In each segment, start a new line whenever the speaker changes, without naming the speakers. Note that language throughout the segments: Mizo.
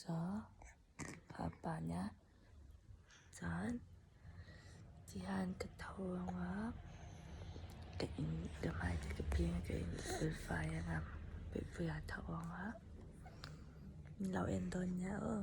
Zawh a panah chuan tihian ka tho ang a, ka in ka hmai te ka peng a ka in bul fai ang a, bul fai a tho ang a, min lo en dawn nia aw.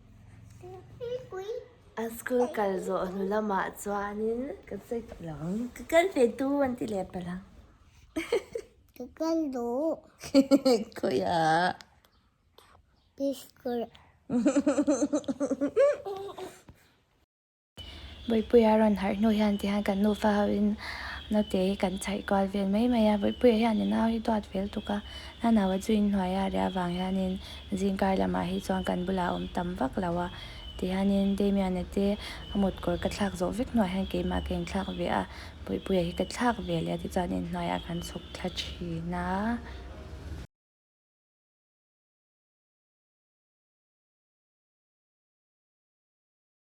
A school kal zawh hnu lamah chuanin ka check lo. Ka kal ve tu an ti leh palang. Ka kal duh. Khawiha. Peace kawrh. Vawipuia rawn harh hnu hian ti hian kan nufa hoin naute hi kan chhaih kual vel mai mai a, vawipuia hian i nau hi duat fel tuk a, nanau a zu inhnuai a ria vang hianin zingkar lamah hi chuan kan bulah a awm tam vak lo a ti hianin Damian a te a motkawr ka thlak zawh vek hnuah hian keimah ka inthlak ve a, vawipuia hi ka thlak ve leh a tichuan inhnuaiah kan chhuk thla thin a.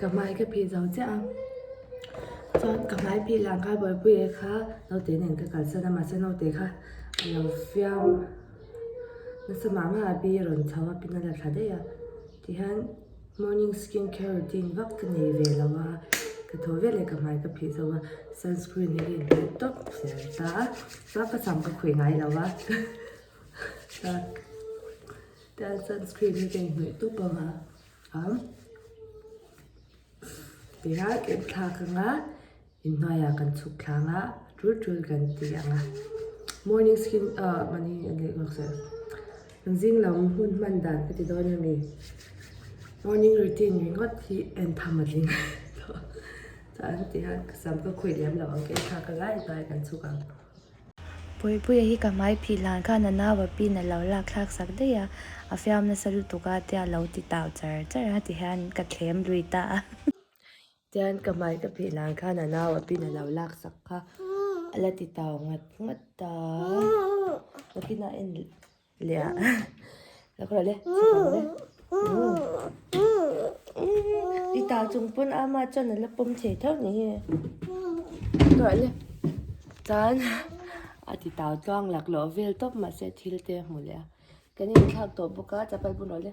Ka hmai ka phih zo chiah a, chuan ka hmai phih lah kha Bawipuia kha naute nen ka kalsan a, mahse naute kha a lo fiam nasa mah mah a bi rawn chho a, pin a la thla daih a, tihian morning skin care routine vak ka nei ve lo a, ka thaw viau leh ka hmai ka phih zo a, sunscreen hi ka inhnawih tawp zel ta a, chuan ka sam ka khawih ngai lo a. Tlâng sunscreen hi ka inhnawih tawp ang a, am tirang em thlâk ang a, inhnuaiah kan chhuk thlâng a, tul tul kan tih ang a, morning skin ah mani a neih zawk se, kan zing lam hun hman dan ka ti dawn a ni, morning routine ringawt hi en tham a ding tawh, chuan hetiang sam ka khawih lem lo ang, ka en thlâk a lai lai kan chhuk ang. Puipuia hi ka hmai phih hlan kha nanau a pin a lo lak thlak sak daih a, a fiam nasa lutuk a tia lo ti tau char char a tihian ka thlem lui ta a. Tihian ka hmai ka phih hlan kha nanau a pin a lo lak sak kha a la ti tau ngat ngat ta a, ka tina en Lea. Lak rawh le. I ta chung pun ama chuan ala pawm thei theuh ni hi. Rawh le. Chuan a ti ta chuang lak loh vel tawp mahse thil te hmu leh a. Kan inthlak tawh bawk a chapal bun rawh le.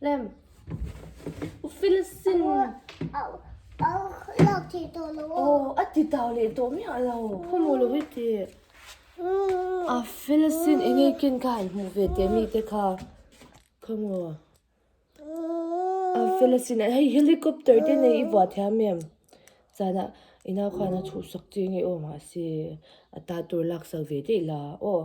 Lem. U Filsin.
Lak ti to lo. Oh, a ti tau
le to mi a lo. Khu mo lo hi ti. A Filsin e nge kin ka han mu ve te mi te kha. Khu mo. A Filsin e hei helicopter te nei i vua thia mi em. Chana ina khana thu sak chi nge o ma si. Ata tur lak sak ve te la. Oh.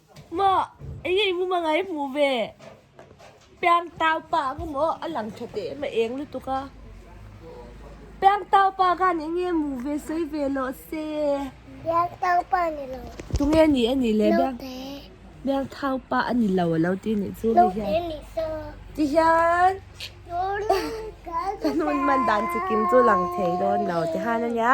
Mah, engei mu mah ngai hmuh ve? Piang taupa ka mu aw, a lang tha teh mah eng lutuk a. Piang taupa ka nih nge mu ve sawi ve loh se? Piang taupa
a ni lo. Tunge ni a nih
le? Naute. Piang
taupa
a ni lo a lo ti nih chu hei hian. Naute a ni saw.
Ti hian. Ka hnun man dan
chi kim chu lang thei dawn lo ti han a nia.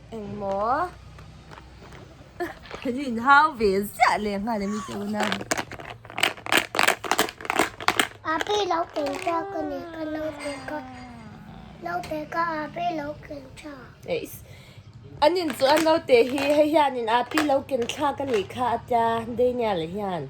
Engmaw?
Kan inhau ve ziah leh nghal em i tih una. Ape lo ken cha ka ni ka
lo pe ka. Lo pe ka ape lo ken cha. Eis.
An in chu an lo te hi hei hian in ape lo ken cha ka ni kha atia Daniel hian.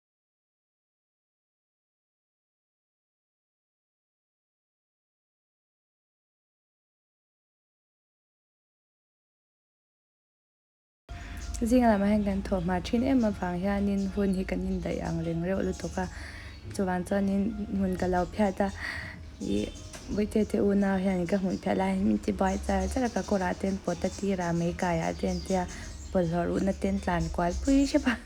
Zing lam ah hian kan thawh hma thin em avang hianin hun hi kan indaih ang reng reuh lutuk a, chuvang chuanin hmun ka lo phiat a, ih Buaite te unau hian ka hmuh theih lai min ti buai char char a ka kawrah te an pawt a tirah mai kaiah te
an tia bawlhhlawh ruhna te an tlan kual pui hrep a.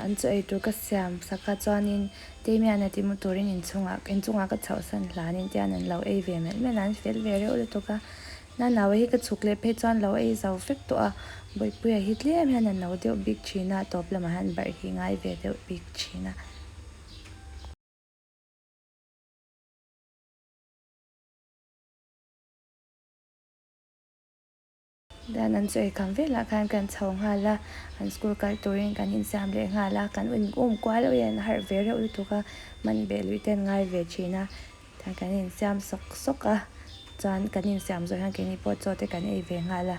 An chaw ei tur ka siam sak a chuanin Teimiana tih hmuh turin inchungah ka chhoh san hlanin tian an lo ei ve melh melh a, an fel ve reuh lutuk a. Na nau hi ka chhuk leh phei chuan lo ei zau vek tawh a, Bawipuia hi tlem hian a no deuh bik thin a, tawp lamah hian barh hi ngai ve deuh bik thin a. Lian an chawi kham velah khan kan chho nghal a, an school kal turin kan insiam leh nghal a, kan inawm kual awin an harh ve reuh lutuk a, hman beh luih te an ngai ve thin a, Chuan kan insiam sawk sawk a, chuan kan insiam zawh hian keini pawh chaw te kan ei ve nghal a.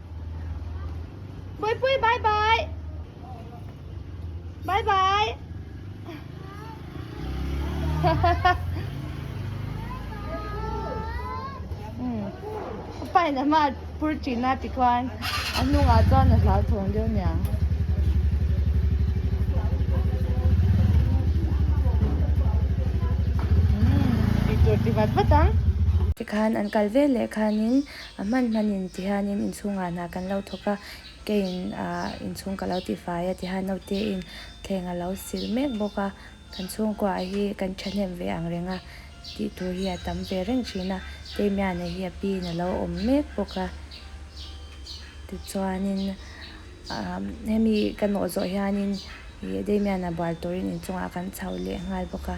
Pui pui bye bye. Bye bye. hmm. Pai na ma pur chi na ti kwan. Anu nga chuan na hlau thong deu nia. Hmm. Picture ti vat vat ang. Khan an kal vel leh khanin A hman hmanin tihianin inchhungah hna kan lo thawk a, keiin inchhung ka lo tifai a tihian Notein thleng a lo silh mek bawk a, kan chhungkua hi kan thahnem ve ang reng a tih tur hi a tam ve reng thin a, Teimiane hi a piin a lo awm mek bawk a, tichuanin hemi ka nawh zawh hianin ih Deimiana buar turin inchungah kan chho leh nghal bawk a.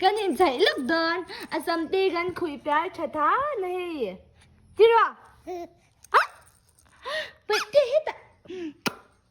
Kan inchei lawk dawn a samte kan khuih piar tha ta na hei tiraw peih teh hetah.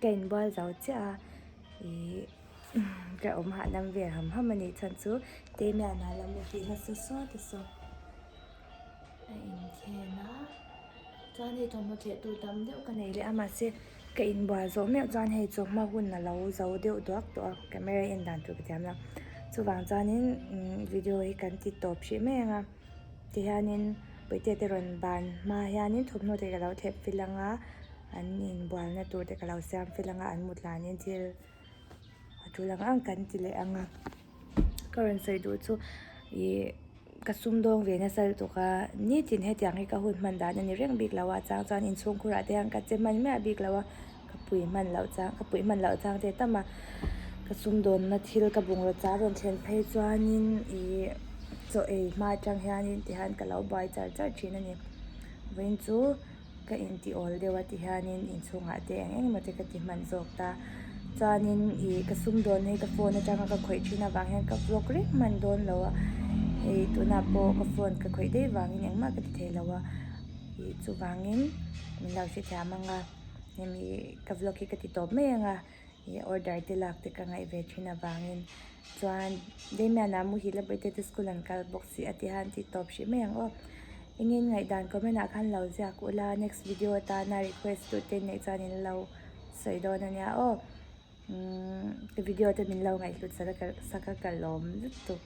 Ka in bual zo chiah a ih ka awm hah lam ve ham ham a nih chhan chu Teime an hah lam afi nasa sawi ta saw a inkhen a chuan hei thawmhnaw cheh tur tam deuh ka nei leh a mahse ka in bual zo miah chuan hei chawhma hun a lo zo deuh duak tawh a camera en dan tur ka tiam lo chuvang chuan in umm video hi kan ti tawp hrih mai anga tihian in Puitete rawn ban hma hian in thawmhnaw te ka lo thlep fill anga. an inbualna tur te ka lo siam fel ang a an mutlan in thil a tul ang ang kan ti leh ang a ka rawn sawi duh chu ihh ka sum dawng ve nasa lutuk a nitin hetiang hi ka hun hman dan a ni reng bik lo a chang chuan inchhungkhur ah te hian ka che hman miah bik lo a ka pui hman loh chang ka pui hman loh chang te ta ma ka sum dawn na thil ka bungraw chah a rawn thlen phei chuan in ihh chaw ei hma atang hian in ti han ka lo buai char char thin a ni vawiin chu-- Ka intiawl deuh a ti hianin inchhungah te eng eng emaw te ka ti hman zawk ta chuanin ih ka sum dawn hi ka phone atanga ka khawih thin avang hian ka vlog reng hman dawn lo a hei tunah pawh ka phone ka khawih daih vangin engmah ka ti thei lo a ih chuvangin min lo hrethiam anga hemi ka vlog hi ka ti tawp mai anga. ih order te lak te ka ngaih ve thin avangin chuan Damian ah muh hi la birthday te school an kal bawk si ati han tih tawp hrih mai ang aw engin ngaihdan comment ah khan lo ziak ula next video atana request tu te neih chuan in lo sawi dawn ania aw umm video te min lo ngaihhlut saka ka lawm lutuk.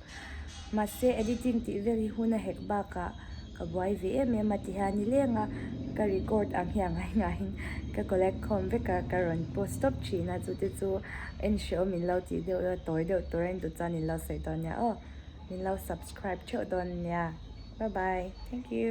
Mahse, editing tih vel hi hun a hek bakah ka buai ve em em a ti hian ni leng a, ka record ang hi a ngai ngaiin ka collect khawm vek a, ka rawn post stop thin a, chute chu en hreawm min lo tih deuh dawn a, tawi deuh tur a en duh chuan in lo sawi dawn nia aw, min lo subscribe theuh dawn nia, bye bye, thank you.